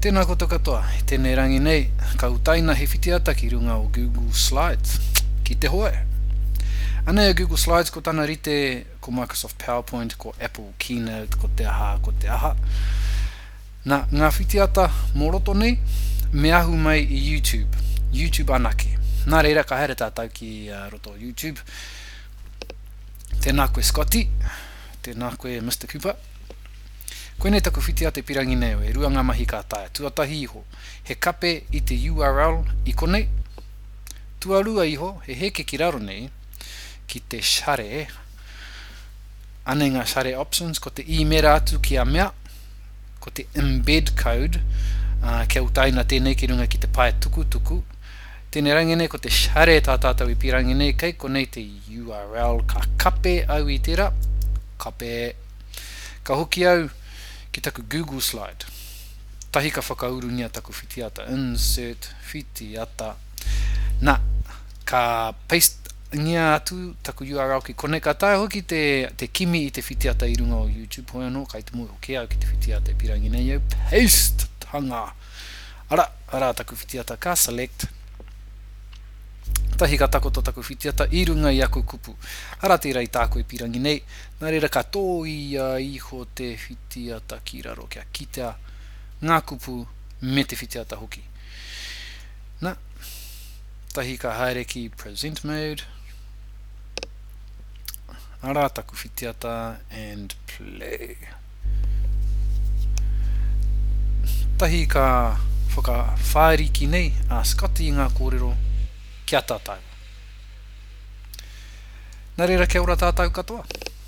Tēnā koutou katoa, i tēnei rangi nei, ka utaina he whitiata ki runga o Google Slides. Ki te hoe! Anei a Google Slides ko tana rite, ko Microsoft PowerPoint, ko Apple Keynote, ko te aha, ko te aha. Na, ngā whitiata mō roto nei, me ahu mai i YouTube. YouTube anake. Nā reira, ka haere tātou ki roto o YouTube. Tēnā koe Scotty. Tēnā koe Mister Cooper. Koinei taku whitia te pirangi nei e rua nga mahi ka taea, tuatahi iho, he kape i te url i konei, tuarua iho, he heke ki raro nei, ki te share, anei nga share options, ko te imera atu ki a mea, ko te embed code, a, kia utaina tenei ki runga ki te pae tukutuku, tenei rangi nei ko te share ta tatou i pirangi nei kei konei te. Url Ka kape au i tera, kape Ka hoki au ki taku Google Slide tahi ka whakaurungia taku whitiata Insert whitiata Na, ka paste-ngia atu taku url ki konei Ka taea hoki te kimi i te whitiata i runga o YouTube Hoi anō, kai te moe hoki au ki te whitiata e pirangi nei au Paste! Hanga! Ara, ara taku whitiata Ka select. Tahi ka takoto taku whitiata i runga i aku kupu. Ara tērā i tāku e pīrangi nei, nā reira ka tōia iho te whitiata ki raro kia kitea ngā kupu me te whitiata hoki. Na, tahi ka haere ki Present Mode. Ara taku whitiata and play. Tahi ka whakawhāriki nei a Scott i ngā kōrero ki a tātou. Nā reira kia ora tātou katoa.